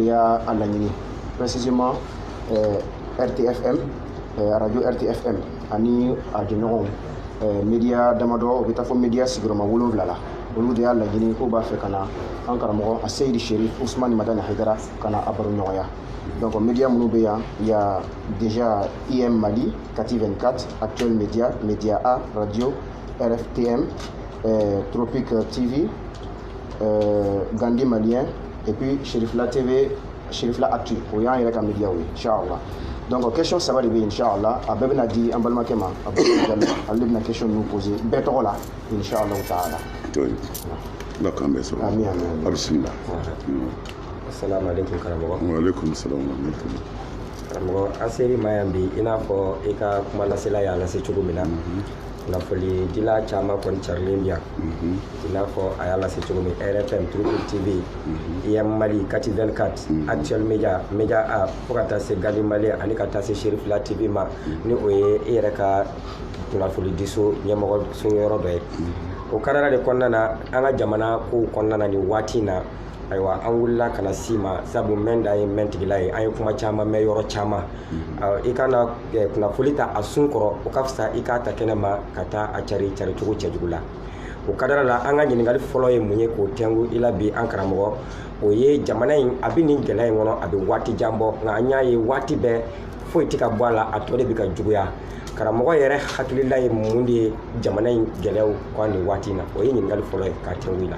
y'a a laɲini précisément euh, RTFM euh, radio RTFM ani a jɛɲɔgɔnw euh, media damadɔ o bɛ taa fo media sigiyɔrɔma wolonwula la olu de y'a laɲini k'u b'a fɛ ka na an karamɔgɔ a seyidi sherif usumani madani hayidara ka na a baroɲɔgɔnya donc media minnu bɛ yan y a déjà im mali kati 24 actuel media media a radio rftm euh, tropique tv Gandhi malien et puis cherifla tv cherifla actu o y'an yɛrɛ ka media ye inshallah donc question saba de bɛ yen inshallah a bɛɛ bɛna di an balimakɛ ma a bɛ ale de bɛna question ninnu poser bɛɛ tɔgɔ la inshallah taala ala k'an bɛɛ sɔrɔ amin amin a bisimila assalamu alaikum karamɔgɔ wa alaikum assalam wa rahmatullahi karamɔgɔ an sera i ma yan bi i n'a fɔ i ka kuma lasela y'a lase cogo min na kunnafonidila caman kɔni carilen bɛ yan i n'a fɔ a y'a lase cogo min rfm tropique tv im mali kati 24 actuel media media a fo ka taa se gandhi malien ani ka taa se cherifla tv ma ni o ye i yɛrɛ ka kunnafonidiso ɲɛmɔgɔ so yɔrɔ dɔ ye o kadara de kɔnɔna na an ka jamana kow kɔnɔna na nin waati in na ayiwa an wulila ka na se i ma sabu mɛn da ye mɛntigila ye an ye kuma caman mɛn yɔrɔ caman mhm. i ka na eh, kunnafoni ta a sun kɔrɔ o ka fisa i k'a ta kɛnɛ ma ka taa a cari cari cogo cɛjugu la o kadara la an ka ɲininkali fɔlɔ ye mun ye k'o tɛngu i la bi an karamɔgɔ o ye jamana in a bɛ nin gɛlɛya in kɔnɔ a bɛ waati jan bɔ nka an y'a ye waati bɛɛ foyi tɛ ka bɔ a la a tɔ de bɛ ka juguya karamɔgɔ yɛrɛ hakilila ye mun de ye jamana in gɛlɛyaw kan nin waati in na o ye ɲininkali fɔlɔ ye k'a tɛngu i la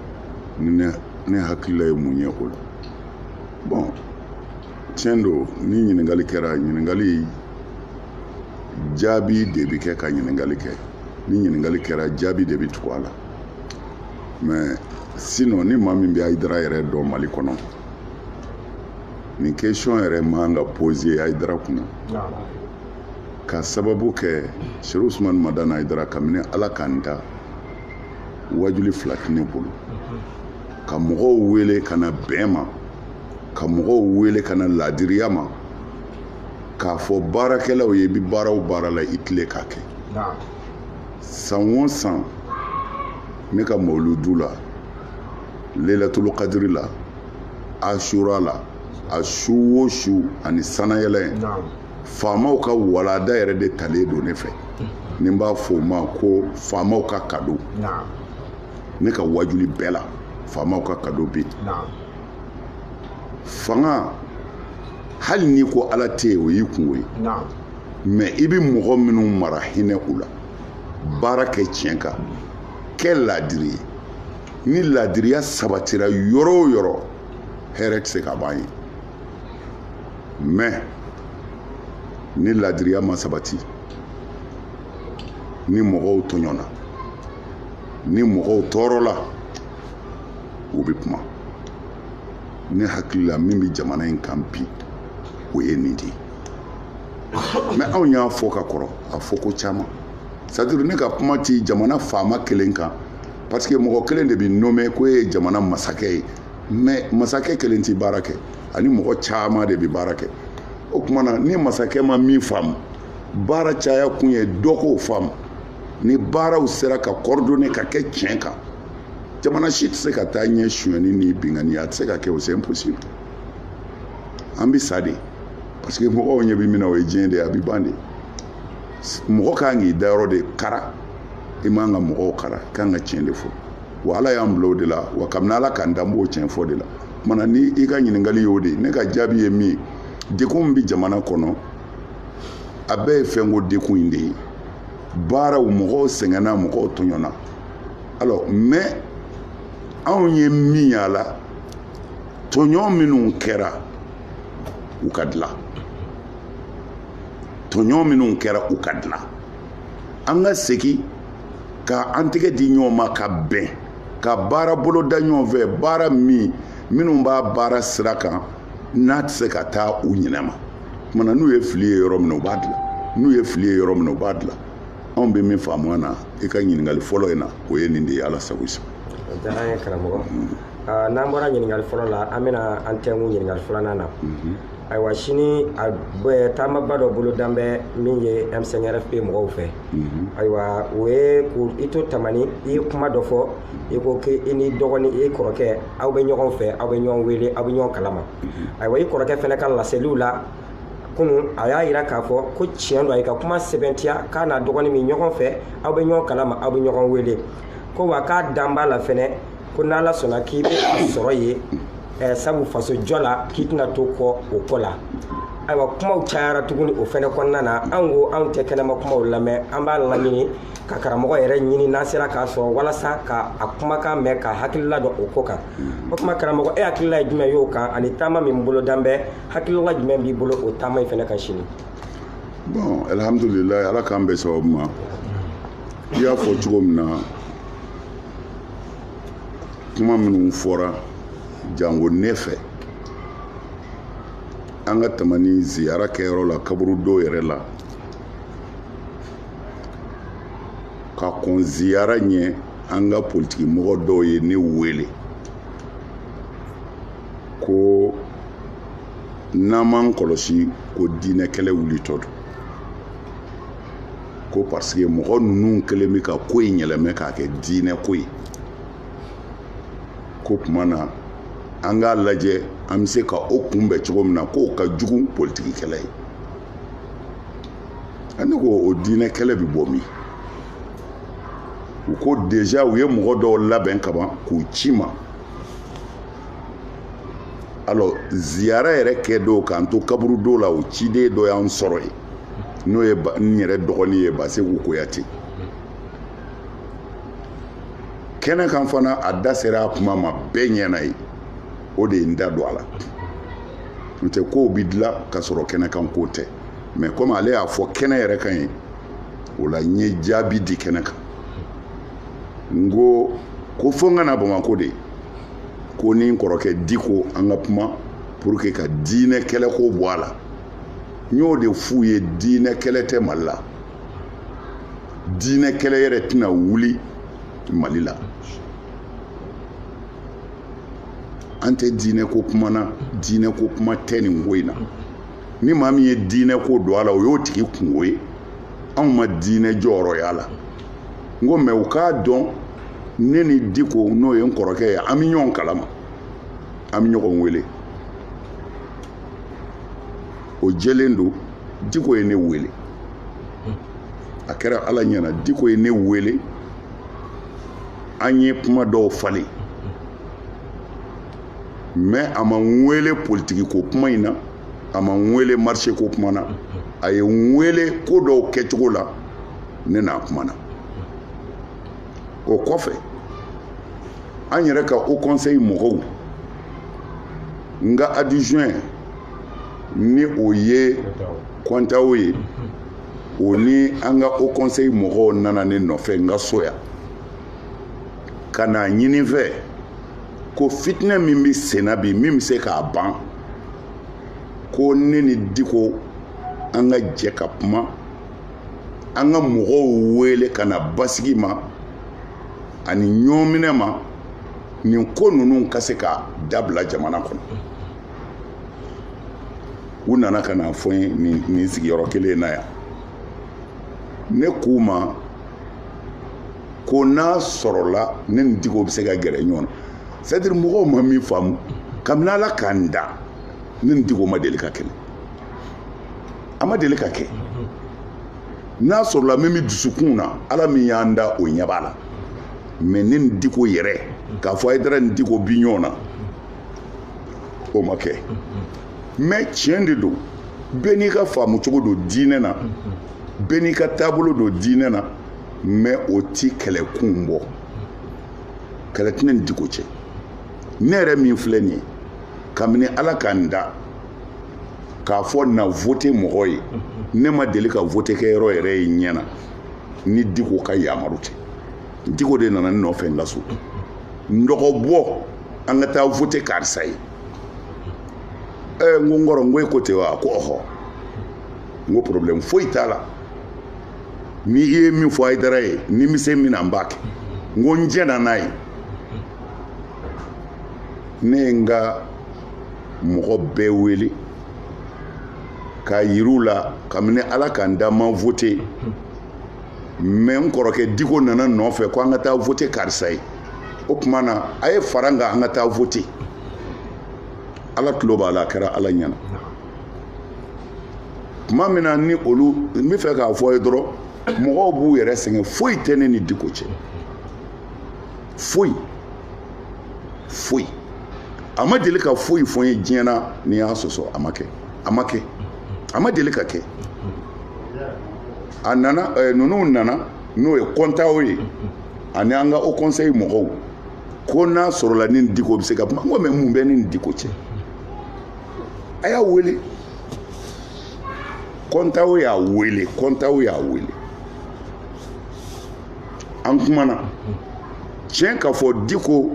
ni ne hakilila ye mun ye o la bon tiɲɛ don ni ɲininkali kɛra ɲininkali jaabi de bɛ kɛ ka ɲininkali kɛ ni ɲininkali kɛra jaabi de bɛ tugu a la mais sinon ni maa min bɛ hayidara yɛrɛ dɔn mali kɔnɔ nin question yɛrɛ man ka poser hayidara kunna ka sababu kɛ sherif usumani madani hayidara kabini ala k'an da wajuli fila tɛ ne bolo ka mɔgɔw wele ka na bɛn ma ka mɔgɔw wele ka na laadiriya ma k'a fɔ baarakɛlaw ye i bɛ baara o baara la i tilen k'a kɛ san o san ne ka mawuludu la lelatulu kadiri la asura la a su o su ani sanayɛlɛ faamaw ka walanda yɛrɛ de talen don ne fɛ ni n b'a fɔ o ma ko faamaw ka kado ne ka wajuli bɛɛ la faamaw ka kado bɛ yen fanga hali n'i ko ala tɛ yen o y'i kunko ye mais i bɛ mɔgɔ minnu mara hinɛ u la baara kɛ tiɲɛ kan kɛ laadiri ye ni laadiriya sabatira yɔrɔ o yɔrɔ hɛrɛ tɛ se ka ban yen mais ni ladiriya ma sabati ni mɔgɔw tɔɲɔna ni mɔgɔw tɔɔrɔla u bɛ kuma ne hakili la min bɛ jamana in kan bi o ye nin de ye mais anw y'a fɔ ka kɔrɔ a fɔko caman c'est-à-dire ne ka kuma ti jamana faama kelen kan parce que mɔgɔ kelen de bɛ nommé ko e ye jamana masakɛ ye mais masakɛ kelen tɛ baara kɛ ani mɔgɔ caman de bɛ baara kɛ o tuma na ni masakɛ ma min faamu baara caya kun ye dɔ k'o faamu ni baaraw sera ka coordonner ka kɛ tiɲɛ kan jamana si tɛ se ka taa ɲɛ sonyɛni ni binkanniya a tɛ se ka kɛ o c'est impossible an bɛ sa de parce que mɔgɔw ɲɛ bɛ min na o ye diɲɛ de ye a bɛ ban de mɔgɔ kan k'i dayɔrɔ de kara i man ka mɔgɔw kara kan ka tiɲɛ de fɔ wa ala y'an bila o de la wa kabini ala k'an da an b'o tiɲɛ fɔ de la kuma na ni i ka ɲininkali y'o de ne ka jaabi ye min ye degun min bɛ jamana kɔnɔ a bɛɛ ye fɛnko degun in de ye bawo mɔgɔw sɛgɛnna mɔgɔw tɔɲɔna alors mais anw ye min y'a la tɔɲɔ minnu kɛra u ka dilan tɔɲɔ minnu kɛra u ka dilan an ka segin ka an tɛgɛ di ɲɔgɔn ma ka bɛn ka baara boloda ɲɔgɔn fɛ baara min minnu b'a baara sira kan n'a tɛ se ka taa u ɲinɛ ma kuma na n'u ye fili ye yɔrɔ min na u b'a dilan n'u ye fili ye yɔrɔ min na u b'a dilan anw bɛ min faamu na i ka ɲininkali fɔlɔ in na o ye nin de ye ala sago i sago o diyara an ye karamɔgɔ n'an bɔra ɲininkali fɔlɔ la an bɛna an tɛnkun ɲininkali filanan na ayiwa sini a bɛ taamaba dɔ bolodalen bɛ min ye M5-RFP mɔgɔw fɛ mhm. ayiwa o ye ko i to tamani i ye kuma dɔ fɔ i ko ke i ni dɔgɔni i kɔrɔkɛ aw bɛ ɲɔgɔn fɛ aw bɛ ɲɔgɔn wele aw bɛ ɲɔgɔn kalama mhm. ayiwa i kɔrɔkɛ fana ka laseliw la kunun a y'a yira k'a fɔ ko tiɲɛ don a y'i ka kuma sɛmɛntiya k'a n'a dɔgɔni bɛ ɲɔgɔn fɛ aw bɛ ɲɔgɔn kalama aw bɛ ɲɔgɔn wele ko wa k'a dalen b'a la fɛnɛ ko n'ala sɔnna k'i bɛ a sɔrɔ yen eh, sabu faso jɔ la k'i tɛna to kɔ o ko la ayiwa kumaw cayara tuguni o fɛnɛ kɔnɔna na an ko anw tɛ kɛnɛma kumaw lamɛn an b'a laɲini ka karamɔgɔ yɛrɛ ɲini n'an sera k'a sɔrɔ walasa ka a kumakan mɛn ka hakilila dɔn o ko kan o tuma karamɔgɔ e hakilila ye jumɛn y'o kan ani taama min bolodalen bɛ hakilila jumɛn b'i bolo o taama in fɛnɛ kan sini bon alhamdulilayi ala k'an bɛn sababu ma i y'a fɔ cogo min na kuma minnu fɔra jango ne fɛ an ka tamani ziyara kɛyɔrɔ la kaburudo yɛrɛ la ka kɔn ziyara ɲɛ an ka politikimɔgɔ dɔw ye ne wele ko n'an m'an kɔlɔsi ko diinɛ kɛlɛ wulitɔ don ko parce que mɔgɔ ninnu kɛlen bɛ ka ko in yɛlɛmɛ k'a kɛ diinɛ ko ye k'o tuma na an k'a lajɛ an bɛ se ka o kunbɛn cogo min na k'o ka jugu politikikɛlɛ ye ne ko o diinɛ kɛlɛ bɛ bɔ min u ko déjà u ye mɔgɔ dɔw labɛn kaban k'u ci n ma alors ziyara yɛrɛ kɛ don k'an to kaburudo la o ciden dɔ y'an sɔrɔ yen n'o ye n yɛrɛ dɔgɔnin ye baseku kuyate kɛnɛ kan fana a da sera a kuma ma bɛɛ ɲɛna ye o de ye n da don a la n'o tɛ kow bi dilan ka sɔrɔ kɛnɛ kan ko tɛ mais comme ale y'a fɔ kɛnɛ yɛrɛ kan yen o la n ye jaabi di kɛnɛ kan n ko ko fo n ka na bamakɔ de ko ni n kɔrɔkɛ diko an ka kuma pour que ka diinɛ kɛlɛko bɔ a la n y'o de f'u ye diinɛ kɛlɛ tɛ mali la diinɛ kɛlɛ yɛrɛ tɛna wuli mali la an tɛ diinɛ ko kuma na diinɛ ko kuma tɛ nin ko in na ni maa min ye diinɛ ko don a la o y'o tigi kungo ye anw ma diinɛ jɔyɔrɔ y'a la n ko mais u k'a dɔn ne ni diko n'o ye n kɔrɔkɛ ye an bɛ ɲɔgɔn kalama an bɛ ɲɔgɔn wele o jɛlen don diko ye ne wele a kɛra ala ɲɛna diko ye ne wele an ye kuma dɔw falen mais a ma n wele politiki ko kuma in na a ma n wele marche ko kuma na a ye n wele ko dɔw kɛcogo la ne n'a kumana o kɔfɛ an yɛrɛ ka haut conseil mɔgɔw n ka adjoint ni o ye kɔntawo ye o ni an ka haut conseil mɔgɔw nana ne nɔfɛ n ka so yan ka n'a ɲini n fɛ ko fitinɛ min bɛ senna bi min bɛ se k'a ban ko ne ni diko an ka jɛ ka kuma an ka mɔgɔw wele ka na basigi ma ani ɲɔminɛ ma nin ko ninnu ka se ka dabila jamana kɔnɔ u nana ka n'a fɔ n ye nin sigiyɔrɔ kelen na yan ne k'u ma ko n'a sɔrɔla ne ni diko bɛ se ka gɛrɛ ɲɔgɔn na c'est à dire mɔgɔw ma min faamu kabini ala k'an da ne ni diko ma deli ka kɛlɛ a ma deli ka kɛ n'a sɔrɔla min bɛ dusukun na ala min y'an da o ɲɛ b'a la mɛ ne ni diko yɛrɛ k'a fɔ ayidara ni diko bi ɲɔgɔn na o ma kɛ mɛ tiɲɛ de don bɛɛ n'i ka faamu cogo don diinɛ na bɛɛ n'i ka taabolo don diinɛ na mɛ o ti kɛlɛkun bɔ kɛlɛ tɛ ne ni diko cɛ ne yɛrɛ min filɛ nin ye kabini ala ka n da k'a fɔ na vote mɔgɔ ye ne ma deli ka vote kɛ yɔrɔ yɛrɛ ye n ɲɛ na ni diko ka yamaru tɛ diko de nana ne nɔfɛ n ka so n dɔgɔ bɔ an ka taa vote karisa ye ɛɛ n ko n kɔrɔ n ko e ko ten wa a ko ɔhɔ n ko problème foyi t'a la ni i ye min fɔ ayidara ye ni n bi se min na n b'a kɛ n ko n jɛnna n'a ye ne ye n ka mɔgɔ bɛɛ wele k'a yira u la kabini ala ka n da n ma vote mɛ n kɔrɔkɛ diko nana n nɔfɛ ko an ka taa vote karisa ye o tuma na a ye fara n kan an ka taa vote ala tulo b'a la a kɛra ala ɲɛna tuma min na ni olu n bɛ fɛ k'a fɔ i ye dɔrɔn mɔgɔw b'u yɛrɛ sɛgɛn foyi tɛ ne ni diko cɛ foyi foyi a ma deli ka foyi fɔ n ye diɲɛ na ni n y'a sɔsɔ a ma kɛ a ma kɛ a ma deli ka kɛ a nana eh, ninnu nana n'o ye kɔntaw ye ani an ka haut conseil mɔgɔw ko n'a sɔrɔla ne ni diko bɛ se ka kuma n ko mɛ mun bɛ ne ni diko cɛ a y'a wele kɔntaw y'a wele kɔntaw y'a wele an kumana tiɲɛ ka fɔ diko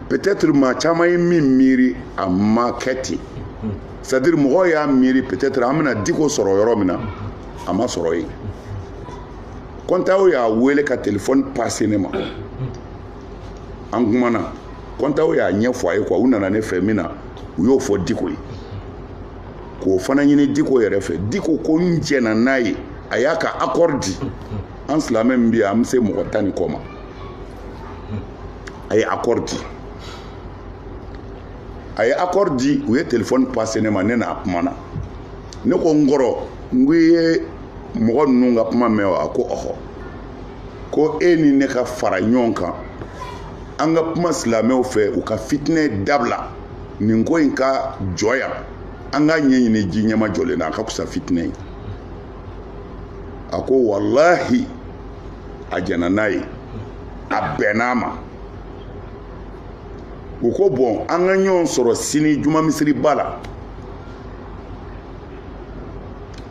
peut-être maa caman ye min miiri a ma kɛ ten c'est à dire mɔgɔw y'a miiri peut-être an bɛna diko sɔrɔ yɔrɔ min na a ma sɔrɔ yen kɔntaw y'a wele ka telefɔni passer ne ma an kumana kɔntaw y'a ɲɛfɔ a ye quoi u nana ne fɛ min na u y'o fɔ diko ye k'o fana ɲini diko yɛrɛ fɛ diko ko n jɛna n'a ye a y'a ka accord di an silamɛ min bɛ yan an bɛ se mɔgɔ tan ni kɔ ma a ye accord di a ye accord di u ye telefɔni passer ne ma ne n'a kumana ne ko n kɔrɔ n ko i ye mɔgɔ ninnu ka kuma mɛn wa a ko ɔhɔ ko e ni ne ka fara ɲɔgɔn kan an ka kuma silamɛw fɛ u ka fitinɛ dabila nin ko in ka jɔ yan an k'a ɲɛɲini ji ɲɛmajɔlen na a ka fisa fitinɛ ye a ko walahi a jɛna n'a ye a bɛnn'a ma u ko bɔn an ka ɲɔgɔn sɔrɔ sini juma misiriba la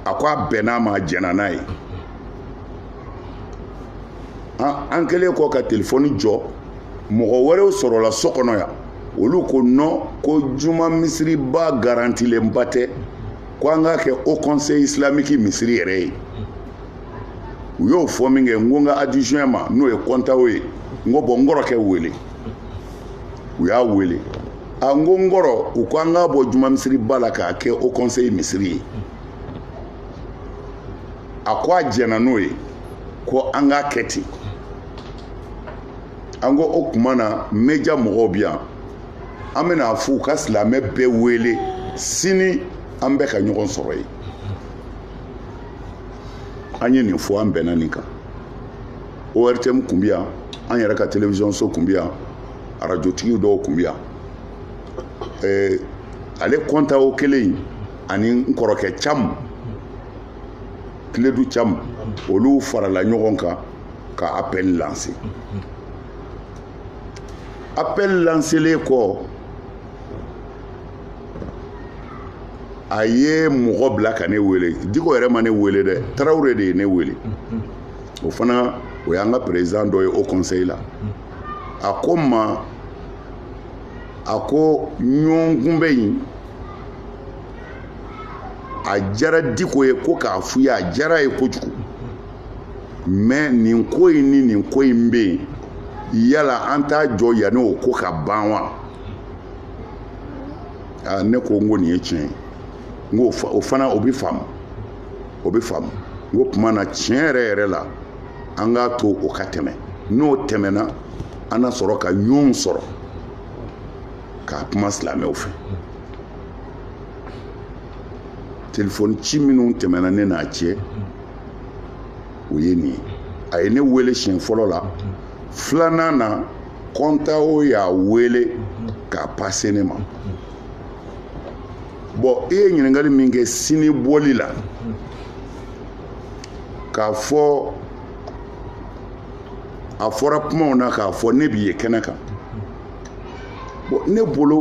a ko a bɛnn'a ma a jɛna n'a ye an kɛlen kɔ ka telefɔni jɔ mɔgɔ wɛrɛw sɔrɔla so kɔnɔ yan olu ko non ko juma misiriba garantilenba tɛ ko an k'a kɛ haut conseil islamique misiri yɛrɛ ye u y'o fɔ min kɛ n ko n ka adjoint ma n'o ye kɔntaw ye n ko bɔn n kɔrɔkɛ wele u y'a wele a n ko n kɔrɔ u ko an k'a bɔ juma misiriba la k'a kɛ haut conseil misiri ye a ko a jɛnna n'o ye ko an k'a kɛ ten an ko o tuma na média mɔgɔw bɛ yan an bɛna a f'u ka silamɛ bɛɛ wele sini an bɛɛ ka ɲɔgɔn sɔrɔ yen an ye nin fɔ an bɛnna nin kan ortm kun bɛ yan an yɛrɛ ka télévision so kun bɛ yan arajotigi dɔw kun bɛ yan ale kɔntaw kelen in ani n kɔrɔkɛ cam tiledu cam olu farala ɲɔgɔn kan ka appel lancer appel lancelen kɔ a ye mɔgɔ bila ka ne wele diko yɛrɛ ma ne wele dɛ tarawele de ye ne wele o fana o y'an ka président dɔ ye haut conseil la a ko n ma a ko ɲɔgɔnkunbɛn in a diyara diko ye ko k'a f'u ye a diyara ye kojugu mɛ nin ko in ni nin ko in bɛ yen yala an t'a jɔ yanni o ko ka ban wa aa ne ko n ko nin ye tiɲɛ ye n ko o fana o bɛ faamu o bɛ faamu n ko tuma na tiɲɛ yɛrɛ yɛrɛ la an k'a to o ka tɛmɛ n'o tɛmɛna an na sɔrɔ ka ɲɔgɔn sɔrɔ k'a kuma silamɛw fɛ telefɔni ci minnu tɛmɛna ne n'a cɛ o ye nin ye a ye ne wele siɲɛ fɔlɔ la filanan na kɔntawo y'a wele k'a pase ne ma bɔn i ye ɲininkali min kɛ sini bɔli la k'a fɔ a fɔra kumaw na k'a fɔ ne bi ye kɛnɛ kan ne bolo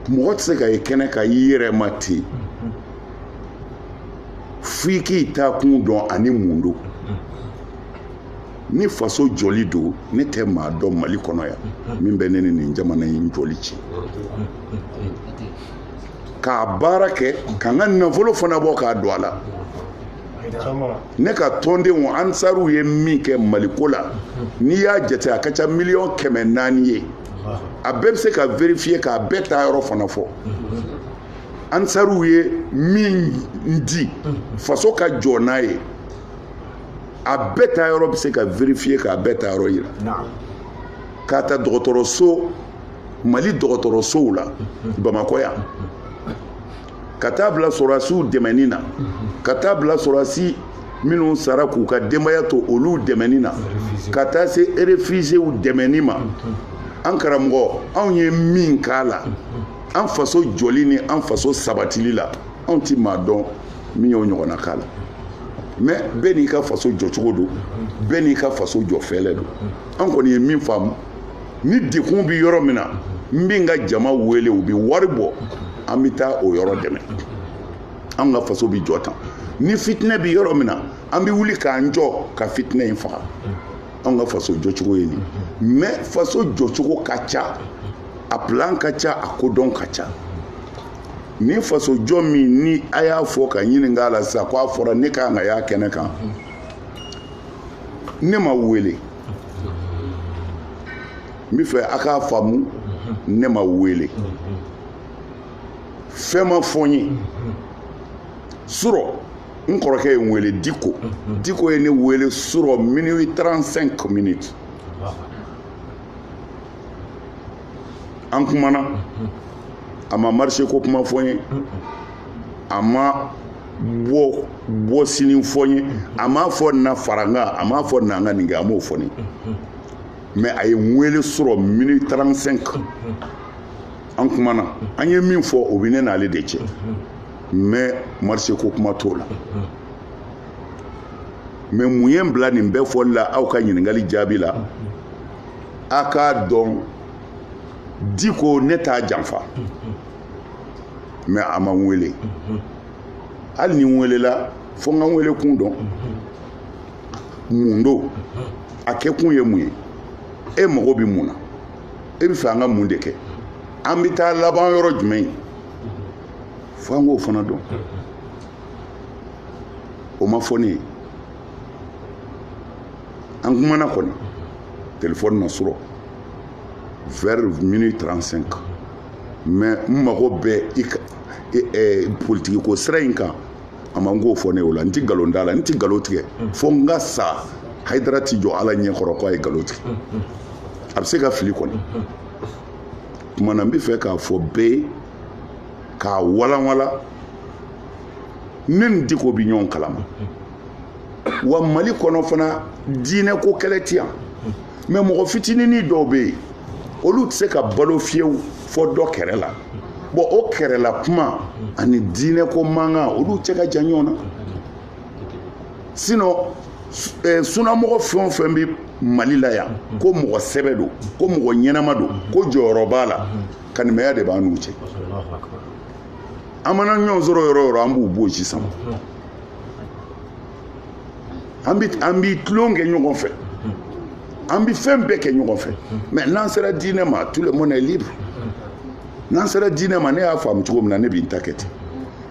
mɔgɔ tɛ se ka ye kɛnɛ kan i yɛrɛ ma ten f'i k'i taa kun dɔn ani mun don ni faso jɔli don ne tɛ maa dɔn mali kɔnɔ yan min bɛ ne ni nin jamana in jɔli cɛ k'a baara kɛ ka n ka nafolo fana bɔ k'a don a la ne ka tɔndenw ansaruw ye min kɛ maliko la n'i y'a jate a ka ca miliyɔn kɛmɛ naani ye a bɛɛ bɛ se ka verifiye k'a bɛɛ taa yɔrɔ fana fɔ ansaruw ye min di faso ka jɔ n'a ye a bɛɛ taa yɔrɔ bɛ se ka verifiye k'a bɛɛ taa yɔrɔ yira k'a ta dɔgɔtɔrɔso mali dɔgɔtɔrɔsow la bamakɔ yan ka taa bila sɔrɔdasiw dɛmɛni na ka taa bila sɔrɔdasi minnu sara k'u ka denbaya to olu dɛmɛni na ka taa se erefizew dɛmɛni ma an karamɔgɔ anw ye min k'a la an faso jɔli ni an faso sabatili la anw ti maa dɔn min y'o ɲɔgɔnna k'a la mɛ bɛɛ n'i ka faso jɔcogo don bɛɛ n'i ka faso jɔ fɛɛrɛ don an kɔni ye min faamu ni degun bɛ yɔrɔ min na n bɛ n ka jama wele u bɛ wari bɔ an bɛ taa o yɔrɔ dɛmɛ an ka faso bɛ jɔ tan ni fitinɛ bɛ yɔrɔ min na an bɛ wuli k'an jɔ ka fitinɛ in faga an ka faso jɔcogo ye nin mɛ faso jɔcogo ka ca a plan ka ca a kodɔn ka ca ni faso jɔ min ni a y'a fɔ ka ɲininka la sisan ko a fɔra ne ka kan ka y'a kɛnɛ kan ne ma wele n bɛ fɛ a k'a faamu ne ma wele fɛn ma fɔ n ye surɔ n kɔrɔkɛ ye n wele diko diko ye ne wele surɔ minuit 35 minutes an kumana a ma marché ko kuma fɔ n ye a ma bɔ bɔ sini fɔ n ye a m'a fɔ na fara n kan a m'a fɔ na an ka nin kɛ a m'o fɔ n ye mais a ye n wele su rɔ minuit 35 an kumana an ye min fɔ o bɛ ne n'ale de cɛ mais marché ko kuma t'o la mais mun ye n bila nin bɛɛ fɔli la aw ka ɲininkali jaabi la a k'a dɔn diko ne t'a janfa mais a ma n wele hali ni n welela fo n ka n wele kun dɔn mun don a kɛkun ye mun ye e mago bɛ mun na e bɛ fɛ an ka mun de kɛ an bɛ taa laban yɔrɔ jumɛn ye fo an k'o fana dɔn o ma fɔ ne ye an kumana kɔni telefɔni na su rɔ vers minuit 35 mais n mago bɛ i ka politikiko sira in kan a ma n k'o fɔ n ye o la n ti nkalon da a la n ti nkalon tigɛ fo n ka sa hayidara ti jɔ ala ɲɛ kɔrɔ ko a ye nkalon tigɛ a bɛ se ka fili kɔni kuma na n bɛ fɛ k'a fɔ bɛɛ ye k'a walanwala ne ni diko bɛ ɲɔgɔn kalama wa mali kɔnɔ fana diinɛ ko kɛlɛ ti yan mais mɔgɔ fitinini dɔw bɛ yen olu tɛ se ka balo fiyewu fo dɔ kɛrɛ la bɔn o kɛrɛla kuma ani diinɛ ko mankan olu cɛ ka jan ɲɔgɔn na sinɔn eh, sunamɔgɔ fɛn o fɛn bɛ mali la yan ko mɔgɔ sɛbɛ don ko mɔgɔ ɲɛnama don ko jɔyɔrɔ b'a la kanimɛya de b'an n'u cɛ an mana ɲɔgɔn sɔrɔ yɔrɔ o yɔrɔ an b'u bonsi sama an bɛ an bi tulon kɛ ɲɔgɔn fɛ an bɛ fɛn bɛɛ kɛ ɲɔgɔn fɛ mais n'an sera diinɛ ma tout le monde est libre n'an sera diinɛ ma ne y'a faamu cogo min na ne b'i ta kɛ ten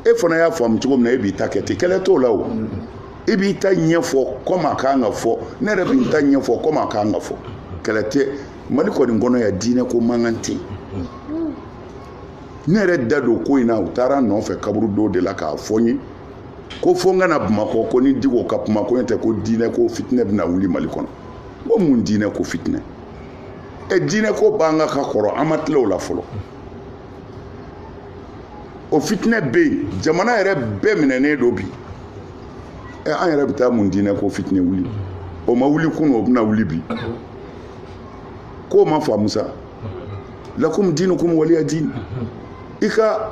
e fana y'a faamu cogo min na e b'i ta kɛ ten kɛlɛ t'o la o i b'i ta ɲɛfɔ kɔmi a kan ka fɔ ne yɛrɛ b'i ta ɲɛfɔ kɔmi a kan ka fɔ kɛlɛ tɛ mali kɔni kɔnɔ yan diinɛ ko mankan tɛ yen ne yɛrɛ da don ko in na u taara n nɔfɛ kaburu dɔw de la k'a fɔ n ye ko fo n ka na bamakɔ ko n ni diko ka kuma ko n'o tɛ ko diinɛ ko fitinɛ bɛna wuli mali kɔnɔ ko mun diinɛ ko fitinɛ ɛ diinɛ ko b'an kan ka kɔrɔ an ma tila o la fɔlɔ o fitinɛ bɛ yen jamana yɛrɛ bɛɛ minɛnen don bi ɛ an yɛrɛ bɛ taa mun diinɛ ko fitinɛ wuli o ma wuli kunu o bɛna wuli bi k'o ma faamu sa lakum dinukum waliya din i ka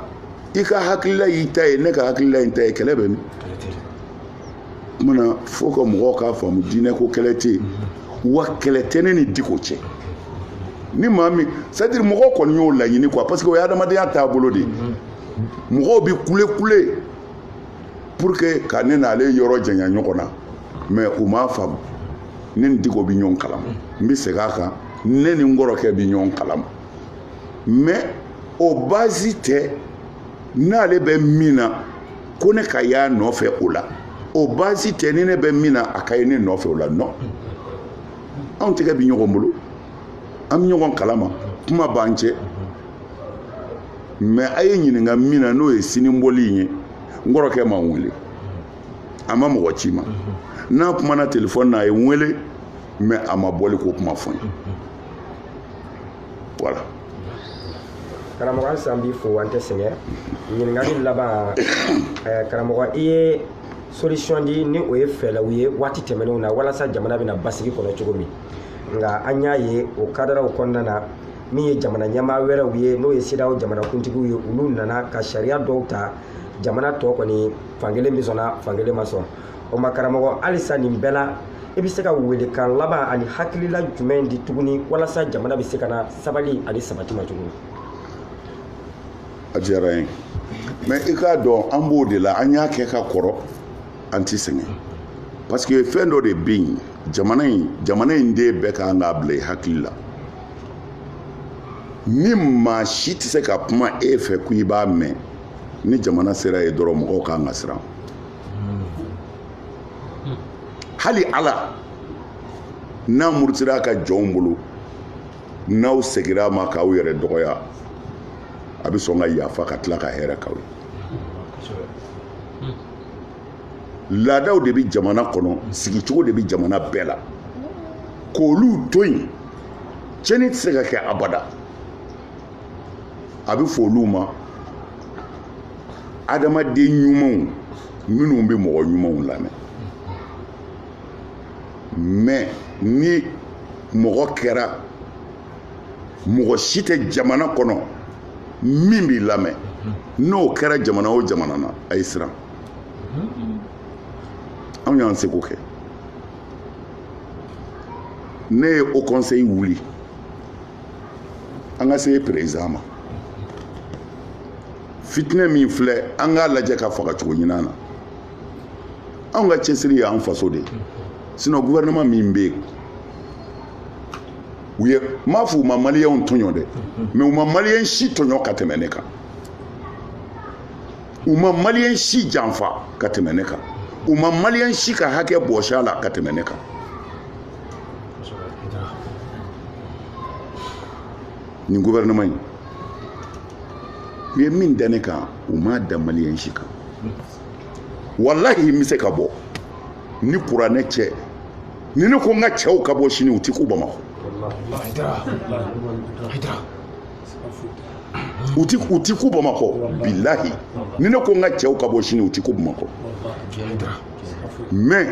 i ka hakilila y'i ta ye ne ka hakilila ye n ta ye kɛlɛ bɛ min kumana fo ka mɔgɔw k'a faamu diinɛ ko kɛlɛ tɛ yen wa kɛlɛ tɛ ne ni diko cɛ ni maa min c'est-à-dire mɔgɔw kɔni y'o laɲini quoi parce que o ye adamadenya taabolo de ye mɔgɔw bɛ kule kule pour que ka ne n'ale yɔrɔ janya ɲɔgɔn na mais u m'a faamu ne ni diko bɛ ɲɔgɔn kalama n bɛ segin a kan ne ni n kɔrɔkɛ bɛ ɲɔgɔn kalama mais o baasi tɛ n'ale bɛ min na ko ne ka y'a nɔfɛ o la o baasi tɛ ni ne bɛ min na a ka ye ne nɔfɛ o la non anw tɛgɛ bɛ ɲɔgɔn bolo an bɛ ɲɔgɔn kalama kuma b'an cɛ mais a ye ɲininka min na n'o ye sini bɔli in ye n kɔrɔkɛ ma n wele a ma mɔgɔ ci n ma n'a kumana telefɔni na a ye n wele mais a ma bɔli ko kuma fɔ n ye voilà karamɔgɔ halisa an b'i fo an tɛ sɛgɛn ɲininkali laban eh, karamɔgɔ i ye solution di ni o ye fɛɛlɛw ye waati tɛmɛnenw na walasa jamana bɛna basigi kɔnɔ cogo min nka an y'a ye o kadaraw kɔnɔna na min ye jamana ɲɛmaa wɛrɛw ye n'o ye CEDEAO jamanakuntigiw ye olu nana ka sariya dɔw ta jamana tɔ kɔni fankelen bɛ sɔnna fankelen ma sɔn o ma karamɔgɔ halisa nin bɛɛ la i bɛ se ka welekan laban ani hakilila jumɛn di tuguni walasa jamana bɛ se ka na sabali ani sabati ma tuguni a diyara n ye mais i k'a dɔn an b'o de la an y'a kɛ ka kɔrɔ an tɛ sɛgɛn parce que fɛn dɔ de bɛ yen jamana in jamana in den bɛɛ kan k'a bila i hakili la ni maa si tɛ se ka kuma e fɛ ko i b'a mɛn ni jamana sera yen dɔrɔn mɔgɔw ka kan ka siran hali ala n'a murutira a ka jɔnw bolo n'aw segira a ma k'aw yɛrɛ dɔgɔya a bɛ sɔn ka yafa ka tila ka hɛrɛ k'aw ye laadaw de bɛ jamana kɔnɔ sigicogo de bɛ jamana bɛɛ la k'olu to yen cɛnni tɛ se ka kɛ abada a bɛ fɔ olu ma adamaden ɲumanw minnu bɛ mɔgɔ ɲumanw lamɛn mais ni mɔgɔ kɛra mɔgɔ si tɛ jamana kɔnɔ min b'i lamɛn n'o kɛra jamana o jamana na a ye siran anw y'an seko kɛ ne ye haut conseil wuli an ka se président ma fitinɛ min filɛ an k'a lajɛ ka faga cogo ɲinan na anw ka cɛsiri y'an faso de ye sinon gouvernement min bɛ yen ne m'a fɔ u ma maliyɛnw tɔɲɔ dɛ mais u ma maliyɛn si tɔɲɔ ka tɛmɛ ne kan u ma maliyɛn si janfa ka tɛmɛ ne kan u ma maliyɛn si ka hakɛ bɔsi a la ka tɛmɛ ne kan nin gouvernement in u ye min da ne kan u m'a da maliyɛn si kan walahi n bɛ se ka bɔ ni kuranɛ cɛ ni ne ko n ka cɛw ka bɔ sini u tɛ kun bamakɔ u ti kun bamakɔ bilahi ni ne ko n ka cɛw ka bɔ sini u ti kun bamakɔ mais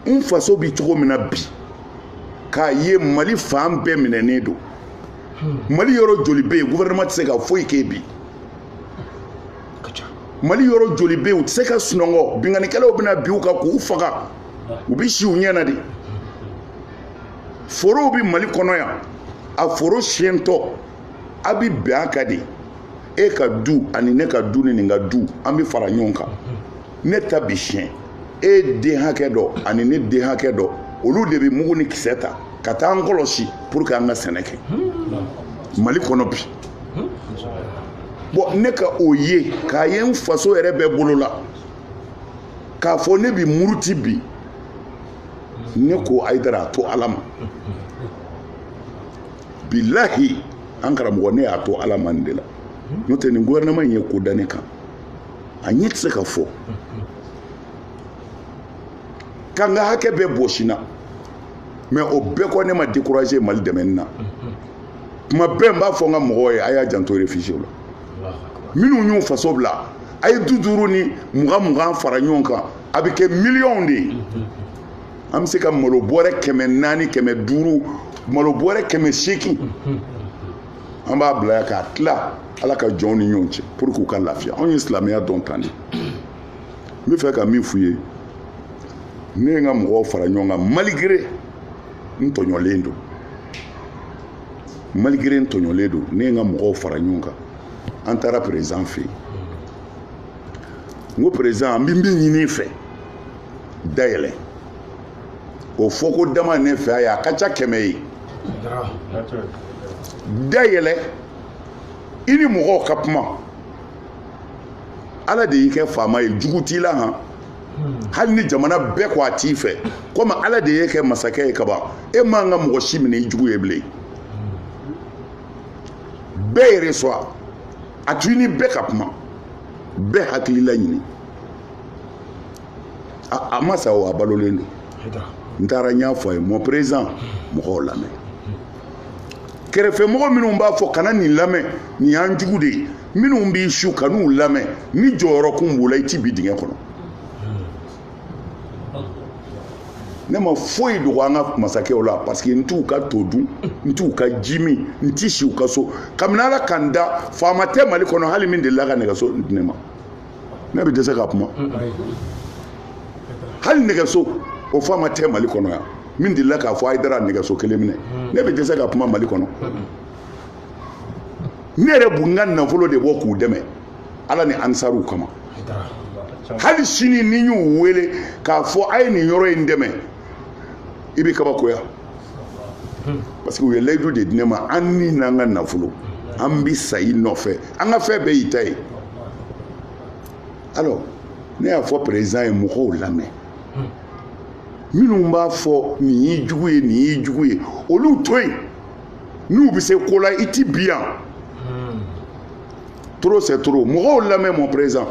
n faso bi cogo min na bi k'a ye mali fan bɛɛ minɛnen don mali yɔrɔ joli bɛ yen gouvernement tɛ se ka foyi kɛ bi mali yɔrɔ joli bɛ yen u tɛ se ka sunɔgɔ binkannikɛlaw bɛna bin u kan k'u faga u bɛ si u ɲɛ na de forow bɛ mali kɔnɔ yan a foro siyɛntɔ a bɛ bɛn a kan de e ka du ani ne ka du ni nin ka du an bɛ fara ɲɔgɔn kan ne ta bi siyɛn e den hakɛ dɔ ani ne den hakɛ dɔ olu de bɛ mugu ni kisɛ ta ka taa an kɔlɔsi pour que an ka sɛnɛ kɛ mali kɔnɔ bi bon ne ka o ye k'a ye n faso yɛrɛ bɛ bolo la k'a fɔ ne bi muruti bi ne ko ayidara a to ala ma bilahi an karamɔgɔ ne y'a to ala ma nin de la n'o tɛ nin gouvernement in ye ko da ne kan a ɲɛ tɛ se ka fɔ ka n ka hakɛ bɛɛ bɔsi n na mais o bɛɛ kɔ ne ma décourager mali dɛmɛni na kuma bɛɛ n b'a fɔ n ka mɔgɔw ye a y'a janto réfugié la minnu y'u faso bila a ye duuru duuru ni mugan mugan fara ɲɔgɔn kan a bɛ kɛ miliyɔnw de ye an bɛ se ka malo bɔrɛ kɛmɛ naani kɛmɛ duuru malo bɔrɛ kɛmɛ seegin an b'a bila yan k'a tila ala ka jɔnw ni ɲɔgɔn cɛ pour que u ka lafiya anw ye silamɛya dɔn tan de n b'a fɛ ka min f'u ye ne ye n ka mɔgɔw fara ɲɔgɔn kan malgré n tɔɲɔlen don malgré n tɔɲɔlen don ne ye n ka mɔgɔw fara ɲɔgɔn kan an taara président fɛ yen n ko président an bɛ min ɲini i fɛ dayɛlɛ o fɔko dama ne fɛ a ye a ka ca kɛmɛ ye da yɛlɛ i ni mɔgɔw ka kuma ala de y'i kɛ faama ye jugu t'i la han hali ni jamana bɛɛ ko a t'i fɛ komi ala de y'e kɛ masakɛ ye kaban e man ka mɔgɔ si minɛ i jugu ye bilen bɛɛ yɛrɛ sɔrɔ a to i ni bɛɛ ka kuma bɛɛ hakilila ɲini a ma sa o a balolen don n taara n y'a fɔ a ye mon président mɔgɔw lamɛn kɛrɛfɛmɔgɔ minnu b'a fɔ kana nin lamɛn nin y'an jugu de ye minnu b'i su kan'u lamɛn ni jɔyɔrɔ kun b'u la i ti bin dingɛ kɔnɔ ne ma foyi dogo an ka masakɛw la parce que n t'u ka to dun n t'u ka ji min n ti si u ka so kabini ala ka n da faama tɛ mali kɔnɔ hali min delila ka nɛgɛso di ne ma ne bɛ dɛsɛ ka kuma hali nɛgɛso o faama tɛ mali kɔnɔ yan min delila k'a fɔ ayidara nɛgɛso kelen minɛ ne bɛ dɛsɛ ka kuma mali kɔnɔ ne yɛrɛ bɛ n ka nafolo de bɔ k'u dɛmɛ ala ni ansaruw kama hali sini ni n y'u wele k'a fɔ a ye nin yɔrɔ in dɛmɛ i bɛ kabakoya parce que u ye layidu de di ne ma an ni n'an ka nafolo an bi sa i nɔfɛ an ka fɛn bɛɛ y'i ta ye alors ne y'a fɔ président ye mɔgɔw lamɛn minnu b'a fɔ nin y'i jugu ye nin y'i jugu ye olu to yen n'u bɛ se ko la i ti bin yan trop c'est trop mɔgɔw lamɛn mon président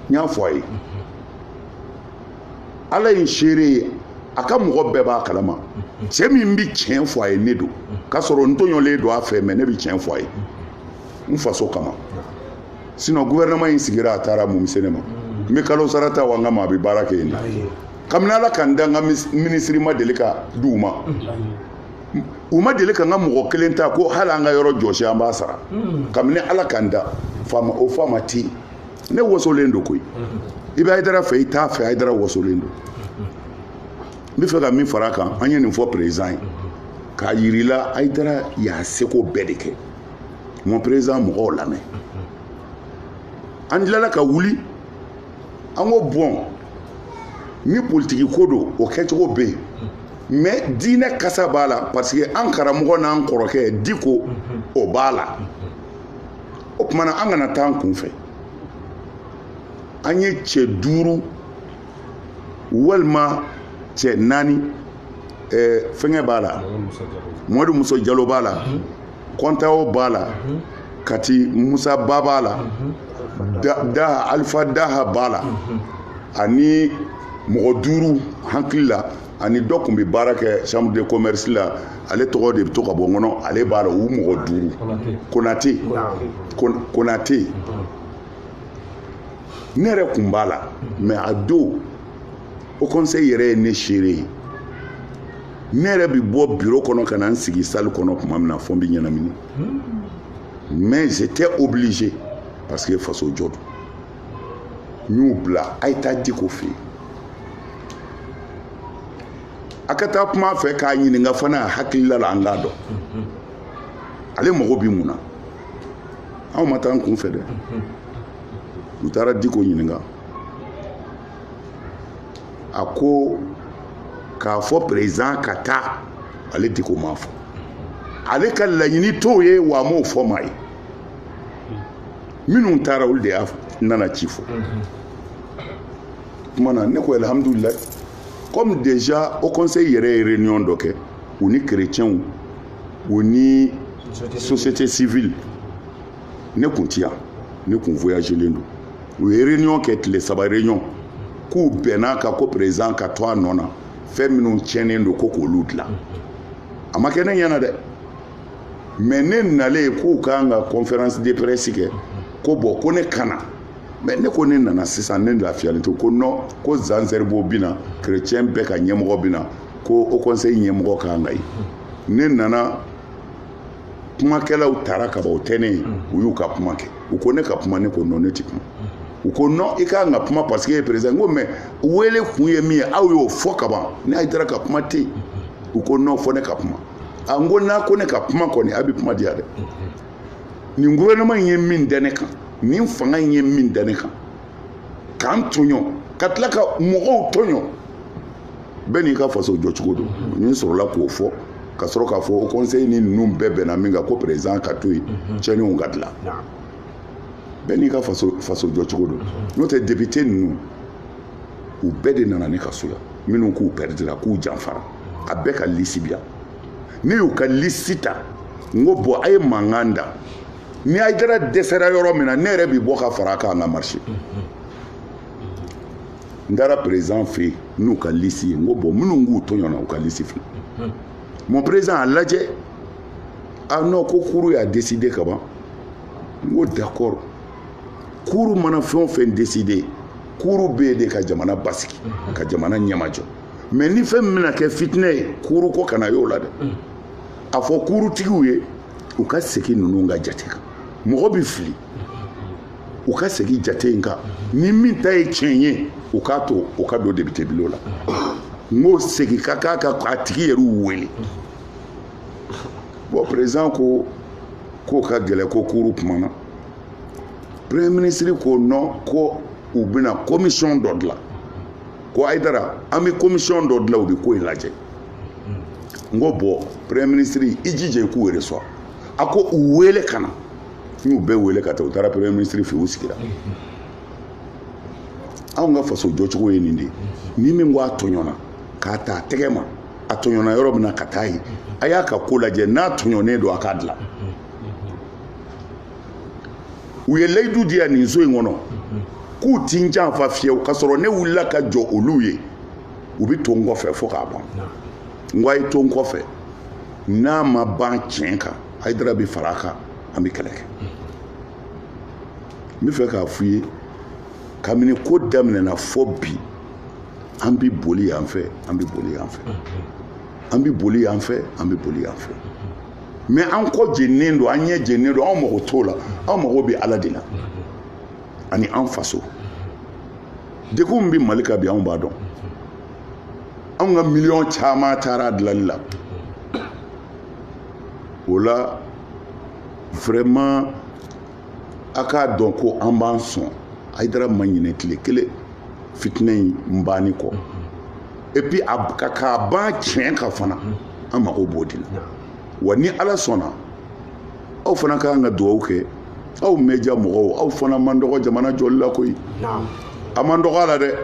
n y'a fɔ a ye ala ye seere ye a ka mɔgɔ bɛɛ b'a kalama cɛ min bɛ tiɲɛ fɔ a ye ne don k'a sɔrɔ n tɔɲɔlen don a fɛ mais ne bɛ tiɲɛ fɔ a ye n faso kama sinon gouvernement in sigira a ta ra mun bi se ne ma n bɛ kalo sara ta wa n ka maa bɛ baara kɛ yen na kabini ala ka n da n ka minisiri ma deli ka di u ma u ma deli ka n ka mɔgɔ kelen ta ko hali an ka yɔrɔ jɔsi an b'a sara kabini ala ka n da o faama tɛ yen ne wasolen don koyi i bɛ ayidara fɛ i t'a fɛ ayidara wasolen don n b'a fɛ ka min fara a kan an ye nin fɔ président ye k'a yirila ayidara y'a seko bɛɛ de kɛ mon président mɔgɔw lamɛn an tilala ka wuli an ko bon ni politiki ko don o kɛcogo bɛ yen mais diinɛ kasa b'a la parce que an karamɔgɔ n'an kɔrɔkɛ diko o b'a la o tuma na an kana taa an kun fɛ an ye cɛ duuru walima cɛ naani eh, fɛngɛ b'a la mɔmadu musa jalo b'a la mhm. kɔntawo b'a la mhm. kati musa ba b'a la mhm. daha alifa daha b'a la ani mɔgɔ duuru hakili la ani dɔ kun bɛ baara kɛ chambre de commerce la ale tɔgɔ de bɛ to ka bɔ n kɔnɔ ale b'a la u mɔgɔ duuru konate konate ne yɛrɛ kun b'a la mais a don haut conseil yɛrɛ ye ne seere ye ne yɛrɛ bɛ bɔ biro kɔnɔ ka na n sigi salle kɔnɔ tuma min na fɔ n bɛ ɲɛnamini mais j'étais obligé parce que faso jɔ don n y'u bila a ye taa diko fɛ yen a ka taa kuma fɛ k'a ɲininka fana a hakilila la an k'a dɔn ale mago bɛ mun na anw ma taa an kun fɛ dɛ u taara diko ɲininka a ko k'a fɔ président ka taa ale diko m'a fɔ ale ka laɲini t'o ye wa a m'o fɔ maa ye minnu taara olu de y'a nana ci fɔ kuma na ne ko alhamdulilayi comme déjà haut conseil yɛrɛ ye réunion dɔ kɛ u ni chrétienw u ni société civile ne kun ti yan ne kun voyagelen don u ye réunion kɛ tile saba réunion k'u bɛnna a kan ko président ka to a nɔ na fɛn minnu tiɲɛnen don ko k'olu dilan a ma kɛ ne ɲɛna dɛ mais ne nalen k'u ka kan ka conférence de presse kɛ ko bon ko ne ka na mais ne ko ne nana sisan ne lafiyalen to ko non ko jean zerbo bina chrétien bɛɛ ka ɲɛmɔgɔ bina ko haut conseil ɲɛmɔgɔ ka kan ka ye ne nana kumakɛlaw tara ka ban o tɛ ne ye u y'u ka kuma kɛ u ko ne ka kuma ne ko non ne tɛ kuma u ko non i ka kan ka kuma parce que ye président ko mais wele kun ye min ye aw y'o fɔ ka ban n'a ye taara ka kuma tɛ yen u ko non fɔ ne ka kuma a n ko n'a ko ne ka kuma kɔni a bɛ kuma diya dɛ nin gouvernement in ye min da ne kan nin fanga in ye min da ne kan k'an tɔɲɔ ka tila ka mɔgɔw tɔɲɔ bɛɛ n'i ka faso jɔcogo don ne sɔrɔla k'o fɔ ka sɔrɔ k'a fɔ haut conseil ni ninnu bɛɛ bɛnna min kan ko président ka to yen tiɲɛniw ka dilan bɛɛ n'i ka faso faso jɔcogo don n'o tɛ député ninnu u bɛɛ de nana ne ka so yan minnu k'u pɛridira k'u janfara a bɛɛ ka lisi bi yan ne y'u ka lisi ta n ko bɔn a ye mankan da ni ayidara dɛsɛra yɔrɔ min na ne yɛrɛ bɛ bɔ ka fara a kan an ka marise n taara perezidan fɛ yen n'u ka lisi ye n ko bɔn minnu k'u tɔɲɔna u ka lisi filɛ mon perezidan a lajɛ ah non ko kuru y'a deside ka ban n ko dakɔrɔ kuru mana fɛn o fɛn deside kuuru bɛ yen de ka jamana basigi mhm. ka jamana ɲɛmajɔ mɛ ni fɛn min bɛna kɛ fitinɛ ye kuuru ko kana y'o la dɛ mhm. a fɔ kuurutigiw ye u ka segin ninnu ka jate kan mɔgɔ bɛ fili u ka segin jate in kan ni min ta ye tiɲɛ ye u k'a to u ka don depitebulon la n k'o segin ka k'a ka k'a tigi yɛrɛw wele bɔn perezidan ko k'o ka gɛlɛn ko kuuru kumana premier ministre ko non ko u bɛna commission dɔ dilan ko ayidara an bɛ commission dɔ dilan u bɛ ko in lajɛ n ko bɔn premier ministre i jija i k'u reçoit a ko u wele ka na n y'u bɛɛ wele ka taa u taara premier ministre fɛ u sigira anw ka faso jɔcogo ye nin de ye ni min ko a tɔɲɔna k'a ta a tɛgɛ ma a tɔɲɔna yɔrɔ min na ka taa yen a y'a ka ko lajɛ n'a tɔɲɔnen don a k'a dilan u ye layidu di yan nin so in kɔnɔ k'u ti n janfa fiyewu k'a sɔrɔ ne wulila ka jɔ olu ye u bɛ to n kɔfɛ fo k'a ban n ko a ye to n kɔfɛ n'a ma ban tiɲɛ kan ayidara bɛ fara a kan an bɛ kɛlɛ kɛ n bɛ fɛ k'a f'u ye kabini ko daminɛna fo bi an bɛ boli yan fɛ an bɛ boli yan fɛ an bɛ boli yan fɛ an bɛ boli yan fɛ. mɛ an kɔ jennen don an ɲɛ jennen don anw mago t'o la anw mago bɛ ala de la ani an faso degun min bɛ mali kan bi anw b'a dɔn anw ka miliyɔn caman taara a dilanni la o la vraiment a k'a dɔn ko an b'an sɔn ayidara ma ɲinɛ tile kelen fitinɛ in banni kɔ epi k'a ban tiɲɛ kan fana an mago b'o de la wa ni ala sɔnna aw fana ka kan ka dugawu kɛ aw média mɔgɔw aw fana man dɔgɔ jamana jɔli la koyi a man dɔgɔ a la dɛ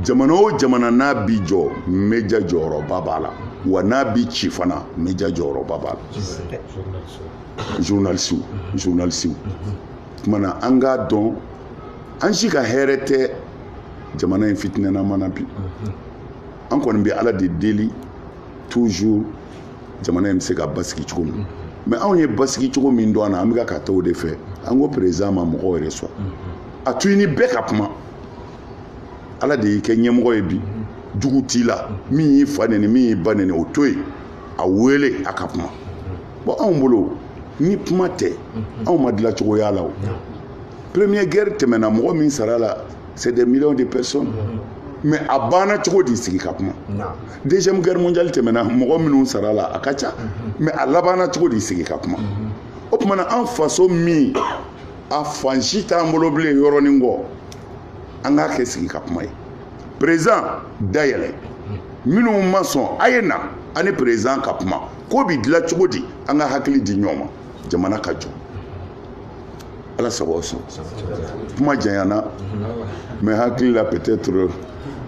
jamana o jamana n'a bi jɔ média jɔyɔrɔba b'a la wa n'a bi ci fana média jɔyɔrɔba b'a la journaliste journaliste kumana an k'a dɔn an si ka hɛrɛ tɛ jamana in fitinɛ na mana bi an kɔni bɛ ala de deli toujours jamana in bɛ se ka basigi cogo min mais anw ye basigi cogo min dɔn a na an bɛ ka taa o de fɛ an ko président ma mɔgɔw yɛrɛ sɔn a to i ni bɛɛ ka kuma ala de y'i kɛ ɲɛmɔgɔ ye bi jugu t'i la min y'i fa nɛni min y'i ba nɛni o to yen a wele a ka kuma bon anw bolo ni kuma tɛ mhm. anw ma dilan cogo ye a la o première guerre tɛmɛna mɔgɔ min sara a la c'est des millions de personnes mhm. mais a banna cogo di sigi ka kuma deuxième guerre mondiale tɛmɛna mɔgɔ minnu sara a la a ka ca mhm. mais a labanna cogo di sigi ka kuma o tuma na an faso min a fan si t'an bolo bilen yɔrɔnin kɔ an k'a kɛ sigi ka kuma ye président da yɛlɛ minnu ma sɔn a ye na a ni président ka kuma ko bɛ dilan cogo di an ka hakili di ɲɔgɔn ma jamana ka jɔ ala sago aw sɔn kuma janyana mais hakili la peut-être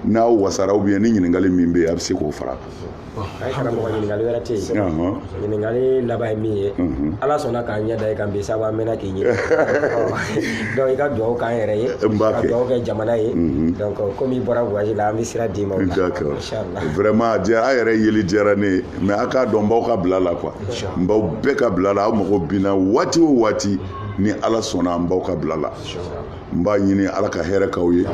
n'aw wasara ou bien ni ɲininkali min bɛ yen a bɛ se k'o fara a kan. ayi karamɔgɔ ɲininkali wɛrɛ tɛ yen ɲininkali laban ye min ye ala sɔnna k'an ɲɛ da i kan bi sabu an mɛnna k'i ɲini donc i ka dugawu k'an yɛrɛ ye N b'a kɛ. ka dugawu kɛ jamana ye donc comme i bɔra voyage la an bɛ sira d'i ma o la D'accord. inchallah vraiment a diyara a yɛrɛ yeli diyara ne ye mais a k'a dɔn n b'aw ka bila la quoi n b'aw bɛɛ ka bila la aw mago bɛ n na waati o waati ni ala sɔnna n b'aw ka bila la n b'a ɲini ala ka hɛrɛ k'aw ye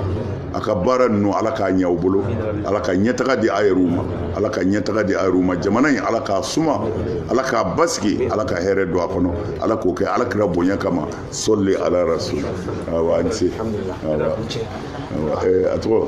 a ka baara ninnu ala k'a ɲɛ aw bolo ala ka ɲɛtaga di a yɛrɛw ma ala ka ɲɛtaga di a yɛrɛw ma jamana in ala k'a suma ala k'a basigi ala ka hɛrɛ don a kɔnɔ ala k'o kɛ ala kira bonya kama sɔli ala rasulu awa an se a tɔgɔ